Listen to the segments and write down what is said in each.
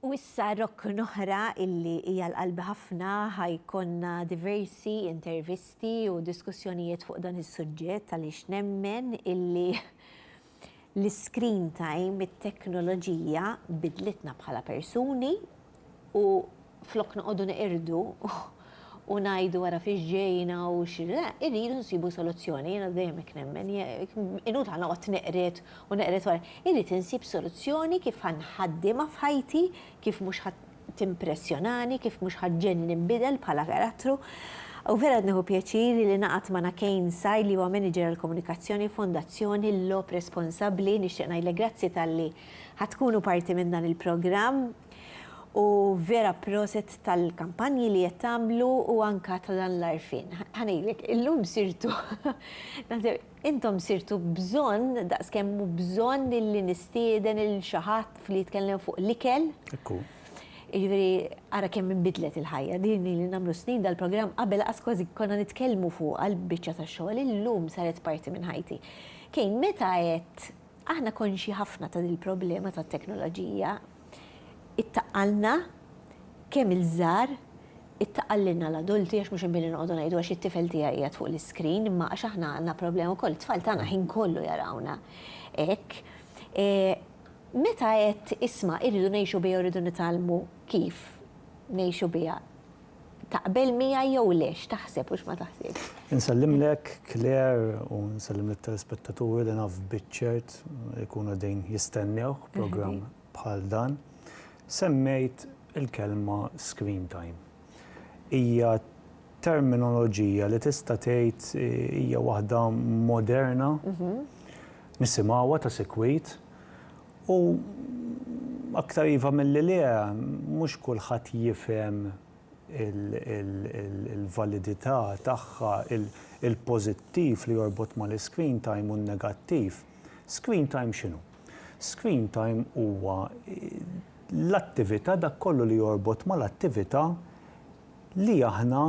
U issa rokkn oħra illi hija l-qalbi ħafna ħa jkollna diversi intervisti u diskussjonijiet fuq dan is-suġġett għaliex nemmen illi l-iscreen time, it-teknoloġija bidlitna bħala persuni u flok noqogħdu neqirdu u ngħidu ara fiex ġejna u x, le, irridu nsibu soluzzjoni, jiena dejjem hekk nemmen, inut ħa noqgħod neqred u neqred wara. Irrid insib soluzzjoni kif ħa nħaddiemha f'ħajti, kif mhux ħa timpressjonani, kif mhux ħa ġġegħelni ninbidel bħala karattru. U vera qed nieħu pjaċir li naqgħad ma' Nakain Sai li huwa Manager għall-Komunikazzjoni f'Fondazzjoni Lob Responsabbli. Nixtieq ngħidlek grazzi talli ħa tkunu parti minn dan il-programm. U vera proset tal-kampanji li qed tagħmlu u anka ta' dan l-għarfien. Ħa ngħidlek, illum sirtu intom sirtu bżonn daqskemm hu bżonn li nistieden lil xi ħadd li jitkellem fuq l-ikel. Hekk hu. Jiġifieri ara kemm inbidlet il-ħajja. Din ili nagħmlu snin dal-programm qabel qas kważi konna nitkellmu fuqha l-biċċa tax-xogħol, illum saret parti minn ħajti. Kane, meta għedt Aħna konxji ħafna ta' dil-problema tat-teknoloġija. Ittaqqalna, kemm iż-żgħar, ittaqqal lilna l-adulti għax mhux inbini noqogħdu ngħidu għax it-tifel tiegħi qiegħed fuq l-iscreen imma għax aħna għandna problema wkoll, it-tfal tagħna l-ħin kollu jarawna hekk. Meta għedt isma' irridu ngħixu biha u rridu nitgħallmu kif ngħixu biha, taqbel miegħi jew le, x'taħseb u x'ma taħsibx. Insellimlek Claire u nsellim lit-telespettaturi li naf biċ-ċert ikunu qegħdin jistennewk b'programm bħal dan. Semmejt il-kelma screen time. Hija terminoloġija li tista' tgħid hija waħda moderna, nisimgħuha ta' sikwit U aktar iva milli le, mhux kulħadd jifhem il-validità tagħha, il-pożittiv li jorbot mal-iscreen time u n-negattiv. Screen time x'inhu? Screen time huwa l-attività, dak kollu li jorbot mal-attività li aħna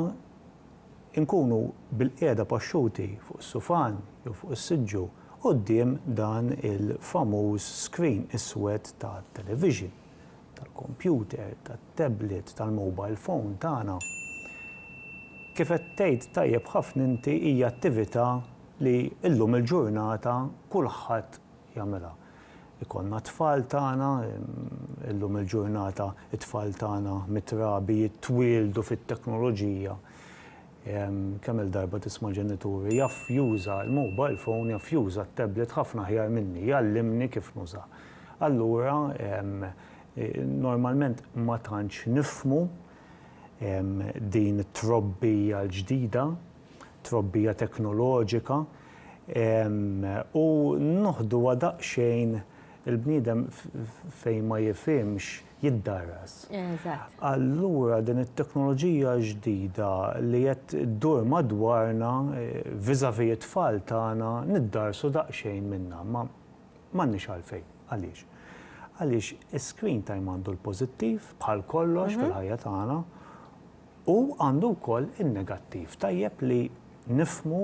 inkunu bilqiegħda paxxuti fuq is-sufan jew fuq is-siġġu quddiem dan il-famuż screen iswed tat-television, tal-kompjuter, tat-tablet, tal-mobile phone tagħna. Kif qed tgħid tajjeb ħafna inti hija attività li llum il-ġurnata kulħadd jagħmilha. Ikollna t-tfal tagħna, illum il-ġurnata t-tfal tagħna mitrabi jitwieldu fit-teknoloġija. Kemm-il darba tisma' ġenituri, jaf juża l-mobile phone, jaf juża t-tablet ħafna aħjar minni, jgħallimni kif nuża. Allura normalment ma tantx nifhmu din it-trobbija l-ġdida, trobbija teknoloġika. U noħduha daqsxejn il-bniedem fejn ma jifhimx jiddarras. Eżatt. Allura din it-teknoloġija ġdida li qed ddur madwarna vis-à-vis it-tfal tagħna niddarrsu daqsxejn minnha. Ma m'għandniex għalfejn. Għaliex? Għaliex is-screen time għandu l-pożittiv bħal kollox fil-ħajja tagħna. U għandu wkoll in-negattiv. Tajjeb li nifhmu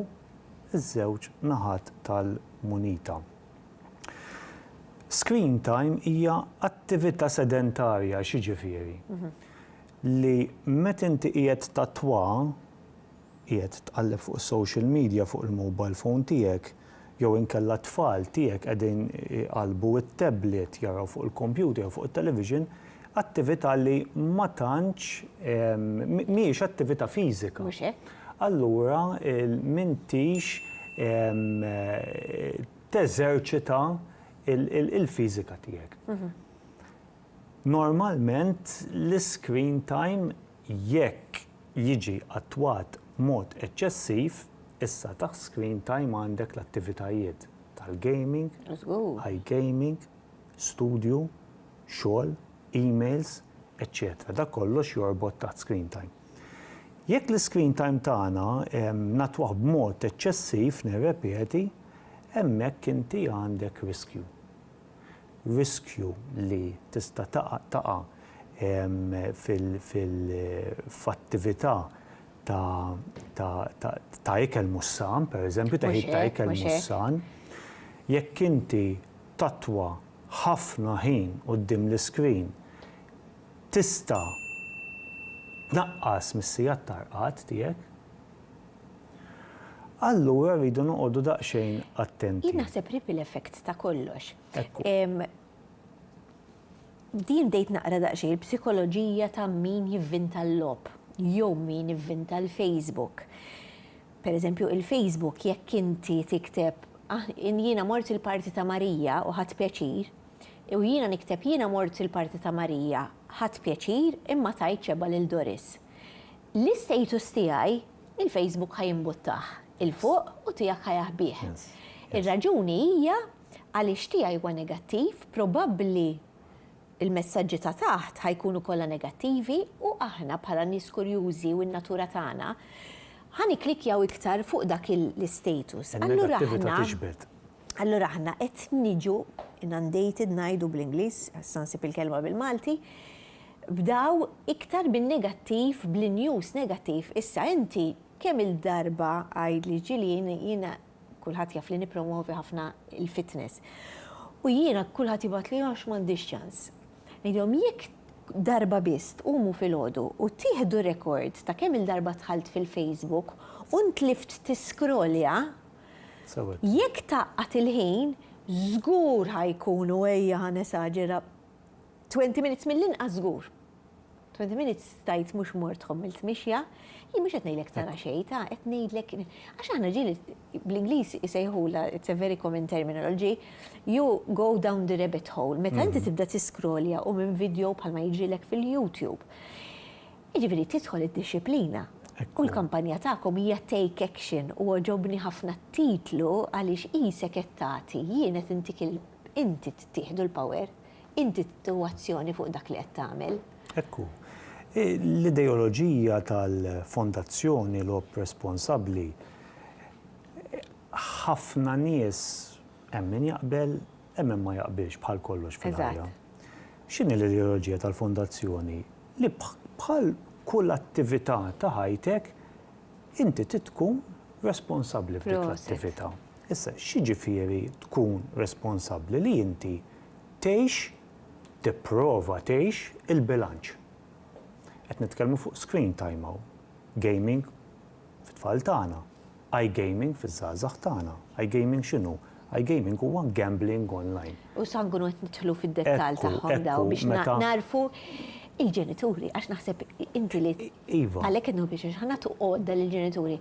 ż-żewġ naħat tal-munita. Screen time hija attività sedentarja, x'jiġifieri? Li meta inti qiegħed tattwa, qiegħed tqalleb fuq is-social media fuq il-mobile phone tiegħek, jew inkella t-tfal tiegħek qegħdin iqallbu t-tablet, jaraw fuq il-kompjuter jew fuq it-television, attività li ma tantx, mhijiex attività fiżika. Mhux hekk. Allura m'intix teżerċita l-fiżika tiegħek. Normalment l-iscreen time jekk jiġi attwat b'mod eċċessiv, issa taħt screen time għandek l-attivitajiet tal-gaming, iGaming, studju, xogħol, emails, eċċetera Dak kollox jorbot taħt screen time. Jekk l-iscreen time tagħna nattwah b'mod eċċessiv, nirrepeti, hemmhekk inti għandek riskju. riskju li tista' taqa' f'attività ta' ikel mhux san, pereżempju teħid ta' ikel mhux san, jekk inti tattwa ħafna ħin quddiem l-iskrin tista' tnaqqas mis-sigħat ta' rqad tiegħek. Allura rridu noqogħdu daqsxejn attenti. Jien naħseb ripple effect ta' kollox. Din bdejt naqra daqsxejn il-psikoloġija ta' min jivvinta l-logħob jew min ivvinta l-Facebook. Pereżempju, il-Facebook jekk inti tikteb jiena mort il-party ta' Marija u ħadt pjaċir, u jiena nikteb jiena mort il-party ta' Marija, ħadt pjaċir imma tajt xebgħa lil Doris. L-istatus tiegħi, il-Facebook ħa jimbuttah 'il fuq u tiegħek ħa jaħbih. Ir-raġuni hija għaliex tiegħi huwa negattiv, probabbli l-messaġġi ta' taħt ħa jkunu kollha negattivi u aħna bħala nies kurjużi u n-natura tagħna ħa nikklikkjaw iktar fuq dak l-istatus. Allura aħna allura aħna qed niġu inundated ngħidu bl-Ingliż, għax se nsib il-kelma bil-Malti, Bdaw iktar bin-negattiv bl-news negattiv issa inti kemm il darba għid li ġieli jiena kulħadd jaf li nippromwovi ħafna l-fitness u jiena kulħadd jibgħatli għax m'għandix ċans. Ngħidilhom jekk darba biss tqumu filgħodu u tieħdu rekord ta' kemm il darba dħalt fil-facebook u ntlift tiskrollja jekk tgħaqqad il-ħin żgur ħa jkunu ejja ħa nesaġera Twenty minutes mill-inqas żgur. Twenty minutes stajt mhux mort tħomm il-tmixja, jien mhux qed ngħidlek tara xejn, ta' qed ngħidlek għax aħna ġieli bl-Ingliż isejħulha it's a very common terminology, you go down the rabbit hole. Meta inti tibda tiskrolja u minn video bħalma jiġrilek fil-YouTube. Jiġifieri tidħol id-dixxiplina. U l-kampanja tagħkom hija take action u għoġobni ħafna t-titlu għaliex qisek qed tagħti, jien qed intik Inti tittieħdu l-power, inti tieħu azzjoni fuq dak li qed tagħmel. Hekk hu. L-ideoloġija tal-Fondazzjoni Logħob Responsabbli ħafna nies hemm min jaqbel, hemm min ma jaqbilx bħal kollox fil-ħajja. X'inhi l-ideoloġija tal-Fondazzjoni? Li bħal kull attività ta' ħajtek, inti trid tkun responsabbli f'dik l-attività. Issa, x'jiġifieri tkun responsabbli? Li inti tgħix, tipprova tgħix, il-bilanċ. Qed nitkellmu fuq screen time hawn. Gaming fit-tfal tagħna. I-gaming fiż-żgħażagħ tagħna. I-gaming x'inhu? I-gaming huwa gambling online. U sa nkunu qed nidħlu fid-dettall tagħhom dawn biex nagħrfu il-ġenituri għax naħseb inti li għalhekk qed nħobb biex ħa nagħtu għodda lill-ġenituri.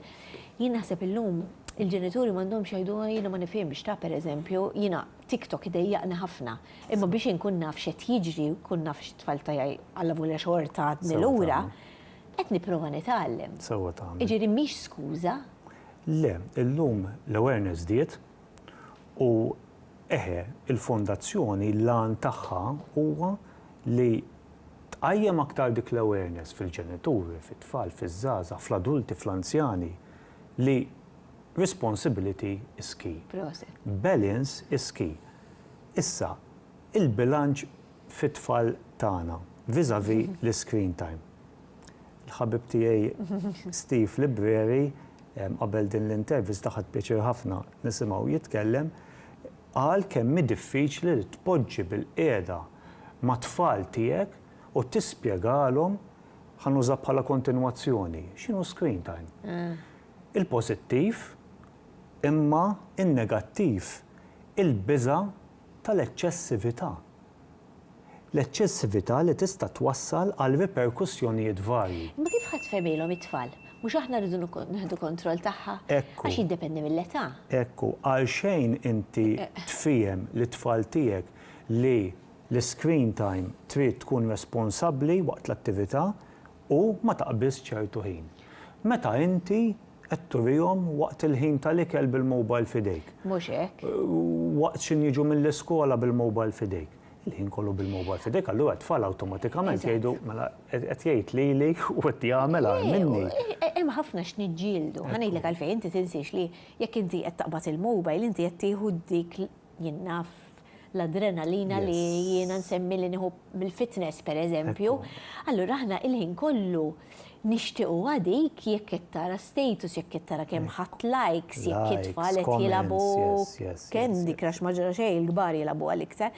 Jien naħseb illum il-ġenituri m'għandhomx jgħidu ah jiena ma nifhimx ta' pereżempju jiena TikTok idejjaqni ħafna imma biex inkun naf x'qed jiġri u nkun naf x'it-tfal tiegħi allavolja xorta għadni lura qed nipprova nitgħallem. Sewwa tagħmel. Jiġifieri mhix skuża. Le, illum l-awareness żdied, U, eħe, il-Fondazzjoni l-għan tagħha huwa li tqajjem aktar dik l-awareness fil-ġenituri, fit-tfal, fiż-żgħażagħ, fl-adulti, fl-anzjani, li responsibility is key. Proset. Balance is key. Issa, il-bilanċ fit-tfal tagħna vis-à-vis l-iscreen time. Il-ħabib tiegħi Steve Libreri, qabel din l-intervista ħadt pjaċir ħafna nisimgħu jitkellem, qal kemm hi diffiċli li tpoġġi bilqiegħda mat-tfal tiegħek u tispjegalhom, ħa nuża bħala kontinwazzjoni, x'inhu screen time. Il-pożittiv imma n-negattiv, il-biża' tal-eċċessività. L-eċċessività li tista' twassal għal riperkussjonijiet varji. Imma kif ħadd fehmilhom it-tfal? Mhux aħna rridu nieħdu kontroll tagħha? Ekku. Għax jiddependi mill-età. Ekku, għalxejn inti tfiehem lit-tfal tiegħek li l-iscreen time trid tkun responsabbli waqt l-attività u ma taqbiżx ċertu ħin. Meta inti qed turihom waqt il-ħin tal-ikel bil-mobile f'idejk. Mhux hekk. Waqt x'inhu jiġu mill-iskola bil-mobile f'idejk. Il-ħin kollu bil-mobile f'idejk, allura t-tfal awtomatikament jgħidu mela qed jgħid lili u qed jagħmel agħar minni. Hemm ħafna x'niġġieldu. Ħa ngħidlek għalfejn, inti tinsiex li jekk inti qed taqbad il-mobile inti qed tieħu dik jien naf l-adrenalina li jiena nsemmi li nieħu mill-fitness per eżempju, allura aħna il-ħin kollu nixtiequ għadik jekk qed tara status, jekk qed tara kemm ħadd likes, jekk it-tfal qed jilagħbu Candy Crush ma ġara xejn il-kbar jilagħbu għal iktar.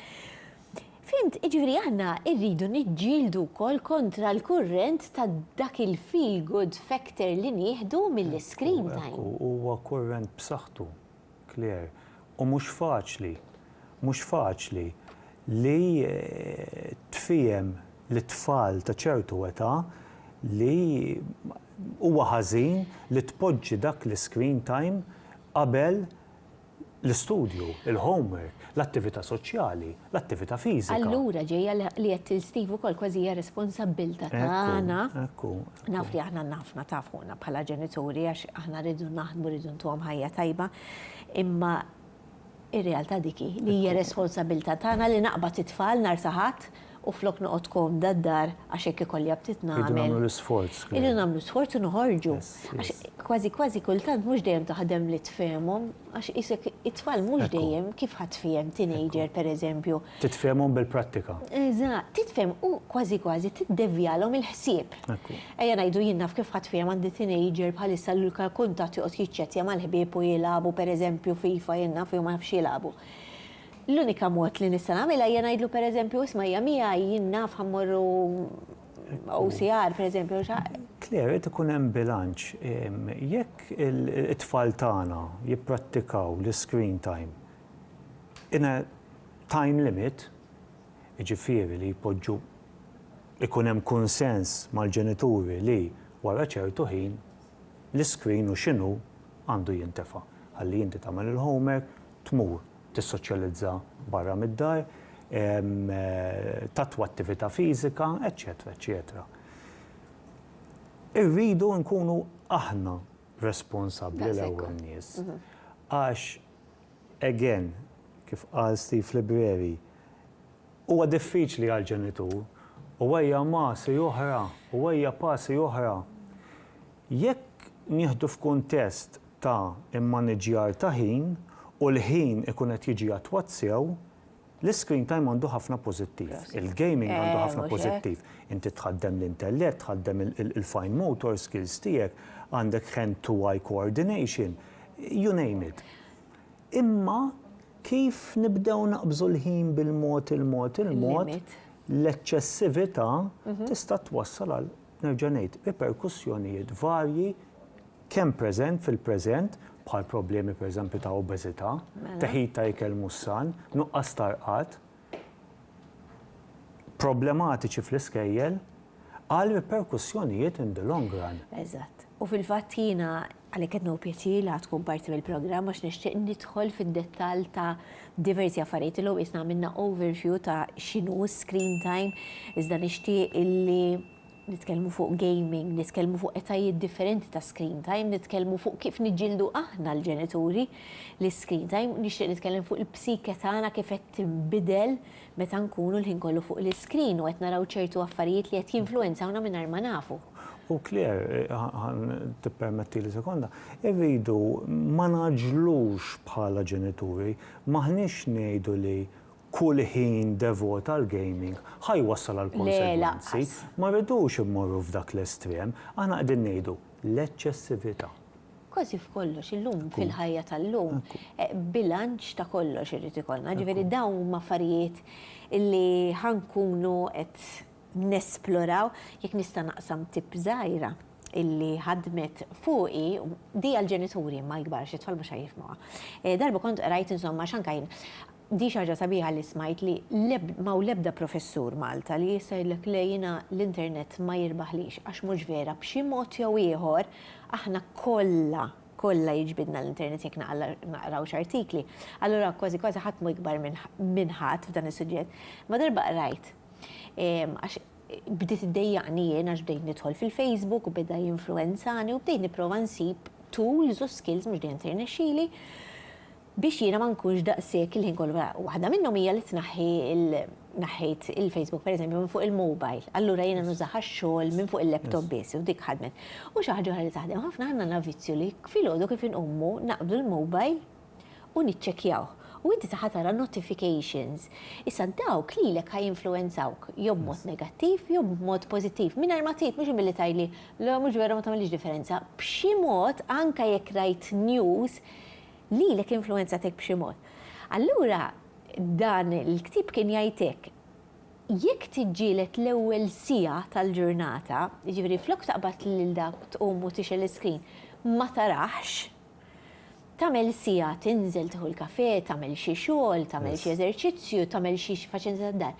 Fimt, ġifieri aħna rridu niġġieldu wkoll kontra l-kurrent ta' dak il-feel good factor li nieħdu mill-iscreen time. Huwa kurrent b'saħħtu. Claire, U mhux faċli, mhux faċli li tfiehem lit-tfal ta' ċertu età li huwa ħażin li tpoġġi dak l-iscreen time qabel l-istudju, il-homework. L-attività soċjali, l-attività fiżika. Allura ġejja li qed tgħid Steve ukoll kważi hija responsabbiltà tagħna. Ekku, ekku. Naf li aħna għandna ħafna taf fuqna bħala ġenituri għax aħna rridu naħdmu rridu ntuhom ħajja tajba, imma ir-realtà dik hi li hija responsabbiltà tagħna li naqbad it-tfal nhar ta' Ħadd, u flok noqgħod komda d-dar għax hekk ikolli aptit nagħmel. Irridu nagħmlu l-isforz. Irridu nagħmlu sforz u noħorġu. Għax kważi kważi kultant mhux dejjem taħdem li tfehmhom għax qisek it-tfal mhux dejjem kif ħa tfiehem teenager pereżempju. Titfehmhom bil-prattika. Eżatt, titfehem u kważi kważi tiddevjalhom il-ħsieb. Ejja ngħidu jien naf kif ħa tfiehem għandi teenager bħalissa li l-kuntatt joqgħod jiċċettja mal-ħbieb u jilagħbu pereżempju FIFA jien naf li huma ma jafx jilagħbu. L-unika mod li nista' nagħmilha hija ngħidlu pereżempju, isma' hija miegħi, jien naf ħa mmorru OCR pereżempju. Claire, irid ikun hemm bilanċ. Jekk it-tfal tagħna jipprattikaw l-iscreen time in a time limit, jiġifieri li jpoġġu, ikun hemm kunsens mal-ġenituri li wara ċertu ħin l-iscreen u x'inhu għandu jintefa'. Ħalli inti tagħmel il-homework, tmur tissoċjalizza barra mid-dar, tattwa attività fiżika, eċċetera eċċetera. Irridu nkunu aħna responsabbli l-ewwel nies. Għax again, kif qal Steve Libreri, huwa diffiċli għall-ġenitur u ejja masi oħra, u ejja pasi oħra. Jekk nieħdu f'kuntest ta' immaniġġjar ta' ħin u l-ħin ikun qed jiġi attwat sew, l-iscreen time għandu ħafna pożittiv, il-gaming għandu ħafna pożittiv. Inti tħaddem l-intellett, tħaddem il-fine motor skills tiegħek, għandek hand to eye coordination, you name it. Imma kif nibdew naqbżu l-ħin bil-mod il-mod il-mod, l-eċċessività tista' twassal għal nerġa' ngħid, riperkussjonijiet varji kemm preżent fil-preżent bħal problemi pereżempju ta' obeżità, teħid ta' ikel mhux san, nuqqas ta' rqad, problematiċi fl-iskejjel, għal riperkussjonijiet in the long run. Eżatt. U fil-fatt jiena Għalhekk qed nieħu pjaċir li ħadd tkun parti mill-programm għax nixtieq nidħol fid-dettall ta' diversi affarijiet. Illum qisna għamilna overview ta' x'inhu s-screen time, iżda nixtieq illi nitkellmu fuq gaming, nitkellmu fuq etajiet differenti ta' screen time, nitkellmu fuq kif niġġieldu aħna l-ġenituri l-screen time, nixtieq nitkellem fuq il-psike tagħna kif qed tinbidel Meta nkunu l-ħin kollu fuq l-iskrin u qed naraw ċertu affarijiet li qed jinfluwenzawna mingħajr ma nafu. U Claire, ħa tippermettili sekonda, irridu ma ngħaġġlux bħala ġenituri, m'aħniex ngħidu li kull ħin devot għall-gaming ħa jwassal għal konsegwenzi, ma rridux immorru f'dak l-estrem, aħna qegħdin ngħidu l-eċċessività. Kważi f'kollox illum, fil-ħajja tal-lum, bilanċ ta' kollox irid ikollna. Ġifieri dawn huma affarijiet li ħa nkunu qed nesploraw. Jekk nista' naqsam tip żgħira illi ħadmet fuqi, di għall-ġenituri imma l-kbar xi tfal mhux ħa jifhmuha. Darba kont qrajt insomma x'anka jien Di xi ħaġa sabiħa li smajt li m'hawn l-ebda professur Malta li jista' jgħidlek le jiena l-internet ma jirbaħlix għax mhux vera b'xi mod jew ieħor aħna kollha kollha jiġbidna l-internet jekk naqraw x'artikli allura kważi kważi ħadd mhu ikbar minn ħadd f'dan is-suġġett imma darba qrajt għax bdiet iddejjaqni jien għax bdejt nidħol fil-Facebook u beda jinfluwenzani u bdejt nipprova nsib tools u skills mhux dejjem tirnexxili biex jiena ma nkunx daqshekk il-ħin kollu wara. Waħda minnhom hija li tnaħħi il naħħejt il-Facebook pereżempju minn fuq il-mobile, allura jiena nużah għax-xogħol minn fuq il-laptop biss u dik ħadmet. U xi ħaġa oħra li taħdem, ħafna aħna għandna vizzju li filgħodu kif inqumu naqbdu l-mobile u niċċekkjawh. U inti saħa tara notifications. Issa dawk lilek ħa jinfluwenzawk jew b'mod negattiv jew b'mod pożittiv. Mingħajr ma tgħid mhux billi tgħidli, le mhux vera ma tagħmilx differenza. B'xi mod anke jekk rajt news Lilek influwenzatek b'xi mod. Allura dan il-ktieb kien jgħidlek jekk tiġġieled l-ewwel siegħa tal-ġurnata, jiġifieri flok taqbad lil dak tqum u tixgħel l-iskrin ma taraħx, tagħmel siegħa tinżel tieħu l-kafè, tagħmel xi xogħol, tagħmel xi eżerċizzju, tagħmel xi faċilità tad-dar.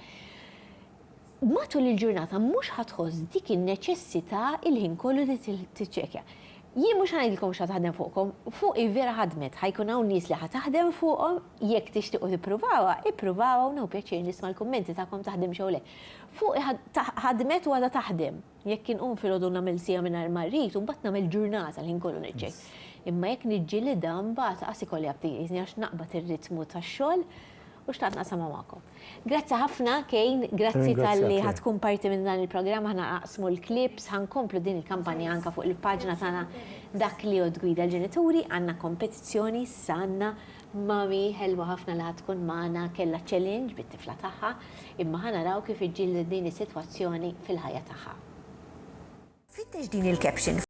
Matul il-ġurnata mhux ħa tħoss dik in-neċessità il-ħin kollu li tiċċekkja. Jien mhux ħa ngħidilkom x'ħa taħdem fuqkom, fuqi vera ħadmet, ħa jkun hawn nies li ħa taħdem fuqhom, jekk tixtiequ tippruvawha, ippruvawha u nieħu pjaċir nisma' l-kummenti tagħkom taħdimx jew le. Fuqi ħadmet u għadha taħdem. Jekk inqum filgħodu u nagħmel siegħa mingħajr ma rrid u mbagħad nagħmel ġurnata l-ħin kollu niġġiegħel. Imma jekk niġġilidha mbagħad qas ikolli abtieżni għax naqbad ir-ritmu tax-xogħol u xtaqt naqsamha magħkom. Grazzi ħafna Kane, grazzi talli ħa tkun parti minn dan il-programm aħna naqsmu l-clips, ħa nkomplu din il-kampanja anke fuq il-paġna tagħna Dak li Jgħodd Gwida l-Ġenituri, għandna kompetizzjoni issa għandna Mommy ħelwa ħafna li ħa tkun magħna kellha challenge bit-tifla tagħha, imma ħa naraw kif iġġildet din is-sitwazzjoni fil-ħajja tagħha. Fittex din il-caption.